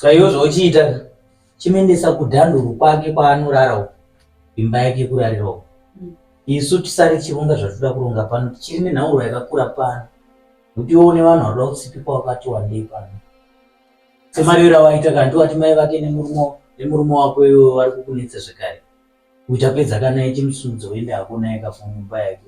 Ska iwe zvauchiita ka chimuendesa kudhanduru kwake kwaanorara uko imba yake yekurarira uko mm. isu tisare tichironga zvatinoda kuronga pano tichiri nenhauro yakakura pano kuti iwe une vanhu vanoda kutsipikwa wakati wandei pano semari yora waita kanti wati mai vake nemurume nemurume wako iwe vari kukunetsa zvekare kuita pedza kana ichimusumudza uende hako naye kafungu mumba yake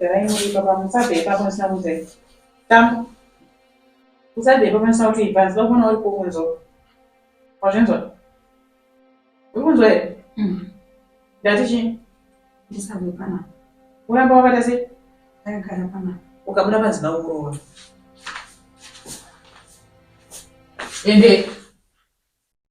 Garai muri baba musabve ipapo ndisina kunzai. Tambo. Usade ipapo ndisina kuti ibva ndisina kuona uri kunzwa. Wazvinzwa? Uri kunzwa here? Mm. Ndati chii? Ndisabve pana. Uramba wakata sei? Ndagara pana. Ukabuda panzi ndakuroora. Ende.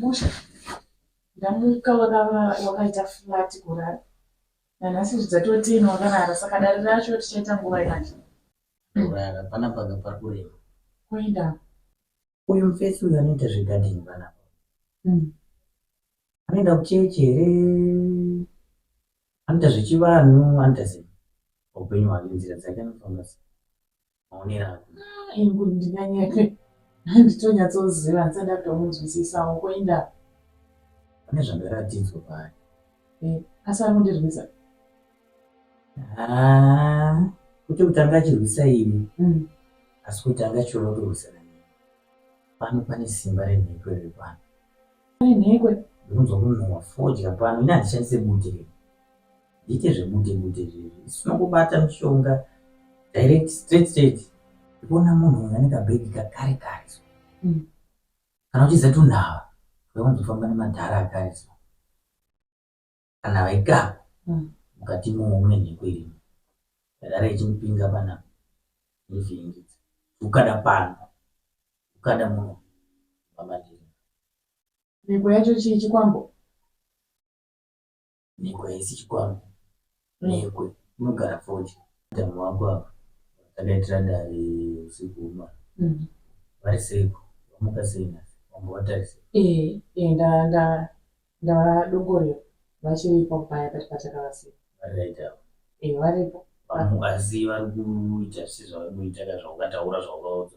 Musha ndamuka wakaita flat kurara nanhasi zvidzatoti ino wakarara saka dare racho tichaita nguva yacho kurara pana panga pari kurema kuenda uyu mfesi uyu anoita zvegadini panapa hmm. anoenda kuchechi here anoita zvechivanhu anoita sei upenyu hwake nzira dzake anofamba sei maonero ako engu ndinganyepe handitonyatsoziva handisati ndatomunzwisisawo koinda pane zvandaratidzwa paari eh, asi ari kundirwisa ah, kuti kutanga achirwisa ini mm. asi kuti anga achiona kutorwisana neni pano pane simba renhekwe riri pano renhekwe ndinonzwa kunhuwa fodya pano ini handishandise bute rei Ndiite zvebude bude izvezvi. Isu tinongobata mishonga direct straight straight. Kuona munhu uyu ane kabhegi kakare kare so. Mm. Kana uchiziva kuti unhava vakanzofamba nemadhara akare so. Kana vaikapa mm. mukati moumwe nhiko irimo yadara ichimupinga panapa ndozviingidza ukada pano ukada muno vamadhiri nhiko yacho chii chikwambo Neko haisi chikwambo. Neko unogara fodya. Madam wako ava vakadaitira dare usiku hwemwana. Mm. Vari seiko? Wamuka sei nhasi? Wamba watarisei? Eh, eh, nda nda ndavadongorera vachiripo paya pati patakavasiya. Vari right ava. Eh, varipo. Vamu asi vari kuita sezvavari kuita ka zvaukataura zvaukaudza.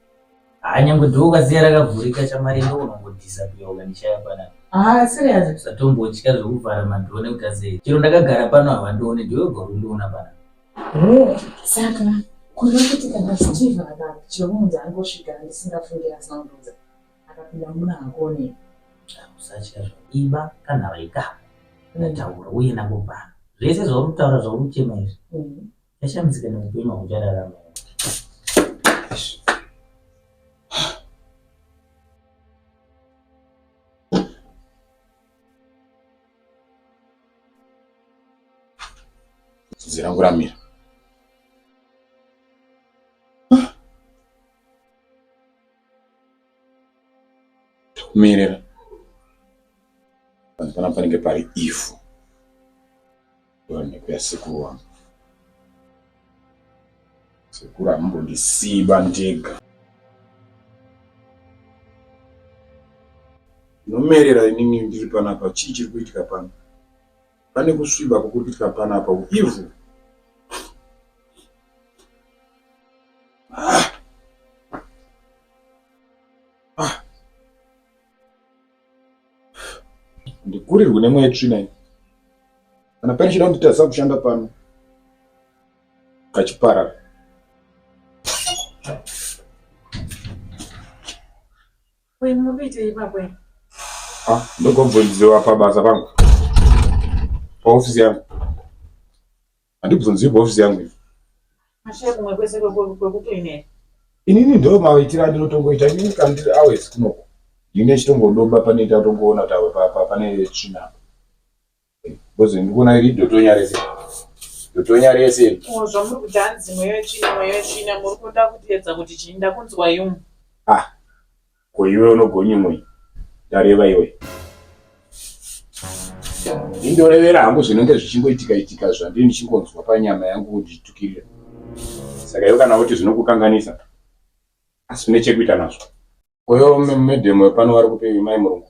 Ah, nyangwe dhoo ukaziya rakavhurika chamarinda unongodhisa kuya ukandishaya panapa. Ah, serious. Usatombotya zvekuvhara madhoo nekuti azee. Chero ndakagara pano havandione ndiwe wega ukundiona panapa. Oh, saka kuda kuti kana Steve akati chemunzi angosvika ndisingafungira asandiudza. Akapinda muna hakone. Ah, usatya zvo. Iba kana vaika. Ndataura uye nakubvana. Zvese zvauri kutaura zvauri kuchema izvi. Mm. Yashambidzika neupenyu hwauchararama. Zira rangu ramira. Mirira. Panapa panenge pari ivhu. Ndoonekwa yasekuru wangu. Sekuru hamumbondisiba ndega. Ndinomerera inini ndiri panapa chii chiri kuitika pano? Pane kusviba kuri kuitika panapa uivhu. ndikurirwe nemweya tsvina iyi kana pane chida kunditadzisa kushanda pano kachiparara ah, ndogobvunziwa pabasa pangu paofisi yangu Handibvunzirwe office yangu ivo. Ashe kumwe kwese kwekutoinera. Inini ndo maitira ndinotongoita inini kana ndiri hours kunoko. Ndine chitongodoba pane tatongoona tawe papa pane tsvina. Bozi ndikuona iri dotonya rese. Dotonya rese. Oh zvamuri kuti hanzi mweyo tsvina mweyo tsvina muri kuda kutiedza kuti chinda kunzwa yumu. Ah. Ko iwe unogonyimwei? Ndareva iwe. Indorevera hangu zvinenge zvichingoitika itika zvandiri ndichingonzwa panyama yangu kunditukirira. Saka iwe kana kuti zvinokukanganisa asi une chekuita nazvo. Uyo medhemu wepano vari kupi mai murungu?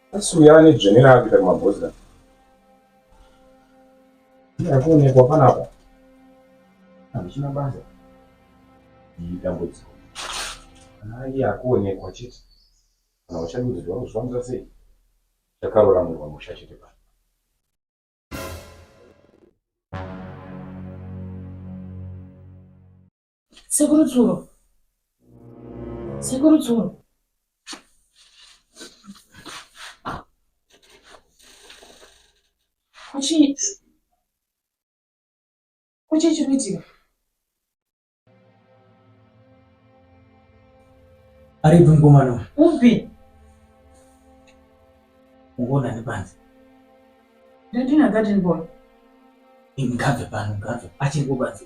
Asi uya ane dzvene raakuita kumabhozira. Akuonekwa panapa. Hamuchina basa. Iyi dambudziko. Kana iye akuonekwa chete. Kana uchadudzirwa kuzvifambisa sei? Chakarora munhu wamusha chete pano. Sekuru Tsuro. Sekuru Tsuro. Kuchii? Kuchii chiri kuitika? Aripi mukomana uyu? Upi? Ungoona nepanze. Ndandina garden boy. Ngabve pano, ngabve. Achiri kubanze.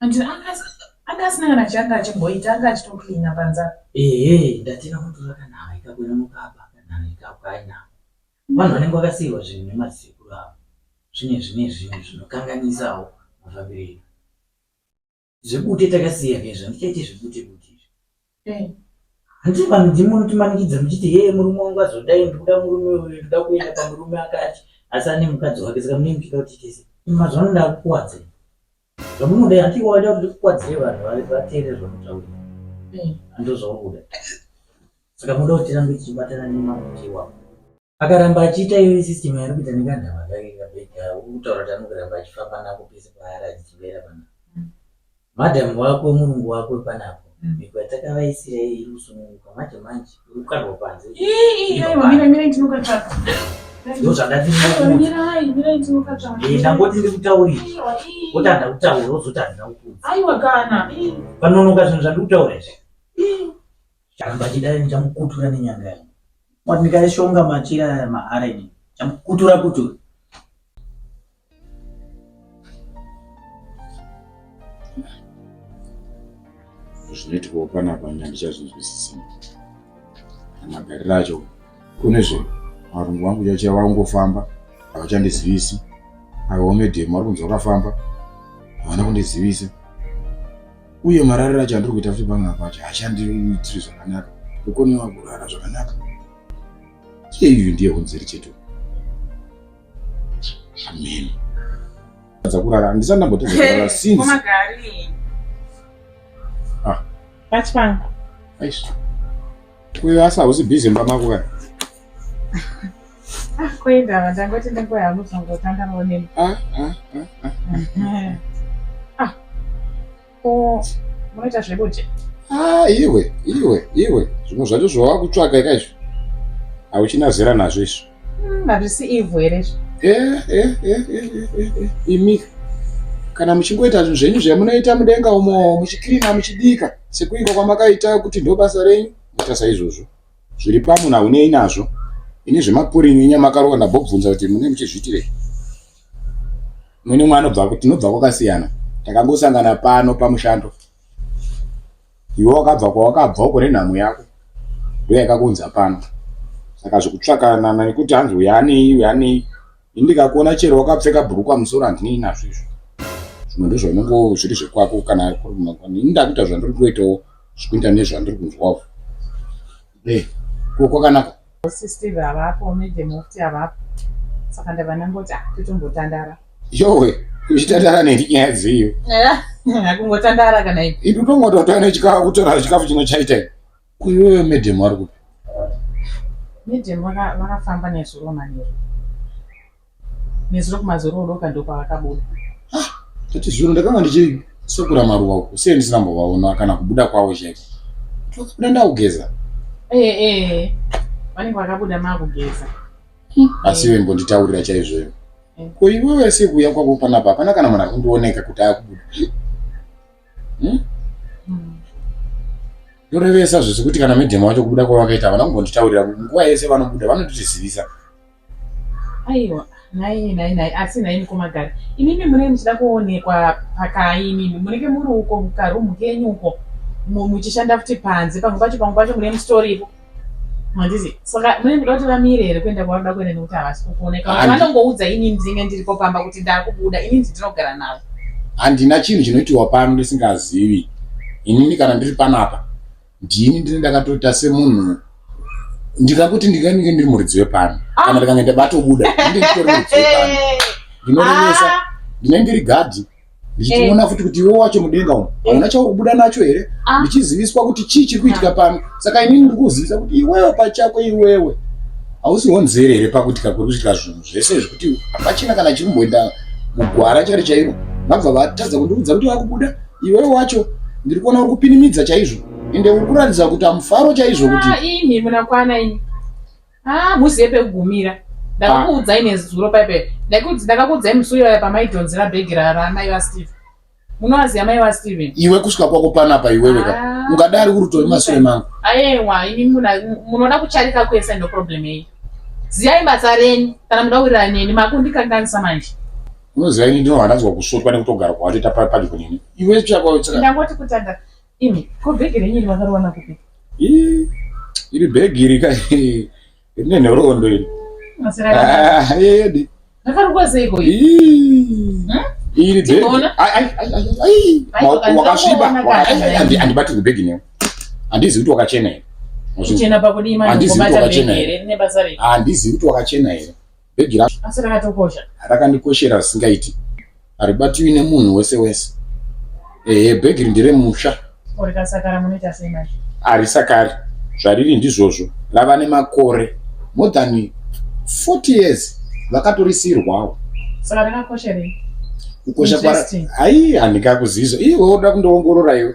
And anga asina kana changa achimboita anga achitocleana panza ehe ndatira kutora kana haikakwira mukaba kana haikakwina vanhu vanenge vakasiirwa zvinhu nemadzikuru avo zvine zvine zvinhu zvinokanganisawo mafambiro edu zvebute takasiya kezvo handichaite zvebute bute izvi Hey. Hanti vanhu ndimi munotimanikidza muchiti hee murume wangu azodai ndikuda murume uyu ndikuda kuenda pamurume akati asi ane mukadzi wake saka mune muchida kuti tese mazuva ano ndakukuwadze zvamunodai hanti iwe waida kuti ndikukwadzire vanhu vateere zvamunotaura andozvauri kuda saka munoda kuti tirambe tichibatana nemamutiwako akaramba achiita iyoyi system yaari kuita nekadhama kake kabhega ukutaura kuti anongoramba achifamba nako pese paari achichivera pana mm. madam wako murungu wako panapo mm. migwa takavaisira iyi iri kusununguka manje manje uri kukarwa panze ndangoti ndiri kutaurira oti handa kutaura ozoti handina kukuza panonoka zvinhu zvandiri kutaura izvi Chamba chidai ndichamukutura nenyanga yangu. Mwati ndikaishonga machira aya maareni chamukutura kutura. Zvinoitwa panapa nyanga ndichazvinzwisisa. Magariro acho kune zvinhu varungu vangu chachiya vangofamba havachandizivisi. Avo vamedhemu vari kunzi vakafamba havana kundizivisa. uye marariro acho andiri kuita futi pamwe apo acho haachandiitiri zvakanaka kukonewa kurara zvakanaka iye iyu ndiye hunziri chetu amen dzakurara handisati ndambotadza kurara since ah. pachipanga aish Uyo asi hausi busy mba mako kani? Ah, kuenda vandangoti ndingoya hangu zvangotanga maoneni. Ah, ah, ah, ah. Ah, ko munoita zvekuti? Ah, iwe, iwe, iwe. Zvimwe zvacho zvawava kutsvaka ika izvi. Hauchina zera nazvo izvi. Hmm, hazvisi ivhu here izvo eh, eh, eh, imi kana muchingoita zvinhu zvenyu zvamunoita mudenga umo muchikirina muchibika sekuinga kwamakaita kuti ndo basa renyu ita saizvozvo zviri pamwe naunei nazvo ini zvemapurinyu inyamakarova ndabobvunza kuti mune muchizviitirei mune mwanobva tinobva kwakasiyana takangosangana pano pamushando Iwe wakabva kwawakabva uko nenhamo yako ndoyakakuunza pano saka zvekutsvakanana nekuti hanzi uyu anei uyu anei ini ndikakuona chero wakapfeka bhurukwa musoro handinei nazvo izvo zvimwe ndozvo unongo zviri zvekwako kana ini ndakuita zvandiri kuitawo zvekuita nezvandiri kunzwawo Eh, ko kwakanaka. Boss Steve havapo, Madam Mufti havapo. Saka ndava ndangoti ah, totombotandara. Yowe, uchitandara neni nyaya dziyo. Eh, kungotandara kana ipi? Ipi tongototora nechikafu kutora chikafu chino chaita. Kuyoyo madam ari kupi? Madam vakafamba nezuro manero. nezuro kumazororo doka ndopavakabuda ah, tati zuro ndakanga ndichisokura maruva uko sei ndisina mbovaona kana kubuda kwavo chete vakabuda ndakugeza eh, eh, vanenge vakabuda makugeza hmm, asi iwe mbonditaurira chaizvoyo eh. ko iwewe sekuuya kwako panapa hapana kana munhu akundioneka kuti akubuda hmm? hmm. ndorevesa zvese kuti kana medhema wacho kubuda kwavakaita havana kumbonditaurira nguva yese vanobuda vanotitizivisa Aiwa nhai nhai nhai asi nhai mukoma gari imimi munenge muchida kuonekwa pakai imimi munenge muri uko mukarumu kenyu uko muchishanda futi panze pamwe pacho pamwe pacho mune mustoripo handizi saka mune muda kuti vamire here kuenda kwavanoda kuenda nekuti havasi kukuoneka vanongoudza inini ndinenge ndiripo pamba kuti ndakubuda inini ndinogara navo handina chinhu chinoitiwa pano ndisingazivi inini kana ndiri panapa ndini ndini ndakatoita semunhu ndikakuti ndingange ndiri muridzi wepano ah. kana ndikange ndabatobuda ndinge nditori muridzi wepano ndinorevesa ah. ndinenge ndiri gadhi ndichitiona eh. futi kuti iwe wacho mudenga umu eh. hauna chaukubuda nacho here ah. ndichiziviswa kuti chii chiri kuitika pano saka inini ndiri kuzivisa kuti iwewe pachako iwewe hausi honzere here pakuitika kuri kuitika zvinhu zvese zvekuti hapachina kana chiri kumboenda mugwara chari chairo vabva vatadza kundiudza kuti vakubuda Iwe wacho ndiri kuona uri kupinimidza chaizvo ende uri kuratidza kuti amufaro chaizvo kuti ah, imi munakwana imi ah, muzive pekugumira ndakakuudzai nezuro paipe ndakakuudzai musi uyoya pamaidhonzera bhegi ramai vasteve munovaziva mai vasteve iwe kusvika kwako panapa iwewe ka ah. ungadari uri tove masure mangu ayewa imi munoda kucharika kwese ndoproblem yei ziyai basa renyu kana muda kuwirirana neni makundikanganisa manje unoziva ini ndino handanzwa kusvotwa nekutogara kwawatoita padyo nini iwe chakwaandangoti kutanda imi ko bhegi renyu iri vakariwana kupi iri bhegi iri ka rine nhoroondo iri edi ndakarikwaseiko wakasviba andibatirwe bhegi newe handizi kuti wakachena here handizi kuti wakachena here Bhegi racho asi rakatokosha, rakandikoshera zvisingaiti, haribatiwi nemunhu wese wese. Ehe, bhegi iri nderemusha. Ko rikasakara munoita sei manje? Harisakari, zvariri ndizvozvo. Rava nemakore more than 40 years vakatorisiirwawo. Saka rakakosherei? Kukosha kwaro Interesting. hayi handingakuzivi izvo. Iwe woda kundoongorora iwe.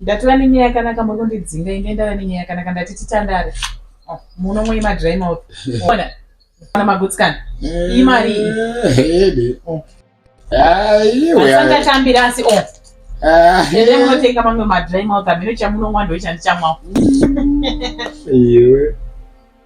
Ndatova nenyaya yakanaka muri kundidzinga inge ndava nenyaya yakanaka ndati titandare ah, muno mwe madry mouth ona kana magutsikana eh, imari asangatambira asi o ah, ende munotenga mamwe madry mouth amene chamunonwa ndoichandichamwawo iwe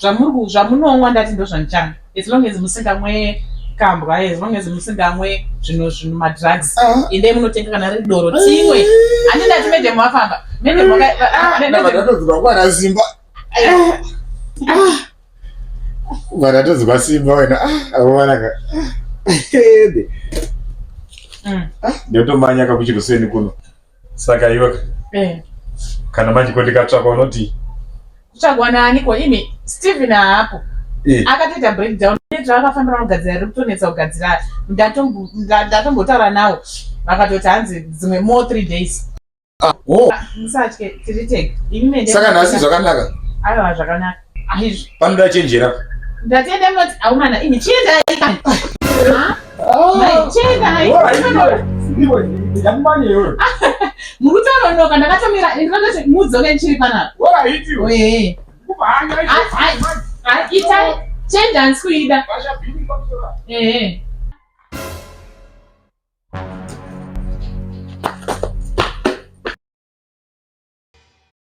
Zvamuri zvamunonwa ndati ndozvandichana as long as musingamwe kambwa as long as musingamwe zvino zvino madrugs endai munotenga kana riri doro timwe handi ndati madam vafamba madam vakadatodzwa kwana simba vakatodzwa simba wena awanaka ndotomanyaka kuchiruseni kuno Saka iwe eh. kana manje ko ndikatsvakwa unoti kutsvagwa nani ko imi Steven haapo eh. akatoita breakdown zvaakafambira vanogadzira ri kutonetsa kugadzira ndatombotaura nawo vakatoti hanzi dzimwe more three days ah, oh. ah, musatye tiri teg saka nhasi zvakanaka aiwa zvakanaka Aizvi. Panoda chenjera. Ndatenda moti aumana ini chienda ikani. Ah. Mai chienda hai. Mukutaronoka ndakatomira ndakati mudzoke ndichiri panapa. Wora iti. Oye. Kubhanya. Ai. Ai itai chienda ansikuida. Basha bini pamusora. Eh eh.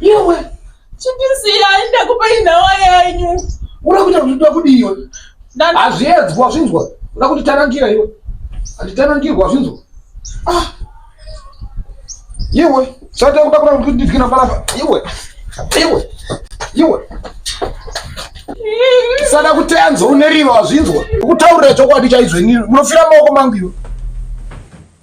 Iwe chipisiya ndakupa inhawa yenyu. Uri kuita kuti ndoda kudii iwe? Hazviedzwa zvinzwa. Unoda kuti tanangira iwe. Handitanangirwa zvinzwa. Ah. Iwe sata kuda kuda kuti ndidye na balapa. Iwe. Iwe. Iwe. Sada kutenzo uneriro azvinzwa. Kutaurira chokwadi chaizvo ini munofira maoko mangu iwe.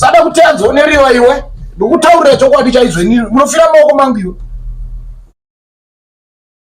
sada kuti anzoneriwa iwe ndikutaurira chokwadi chaizvo inini munofira maoko mangu iwe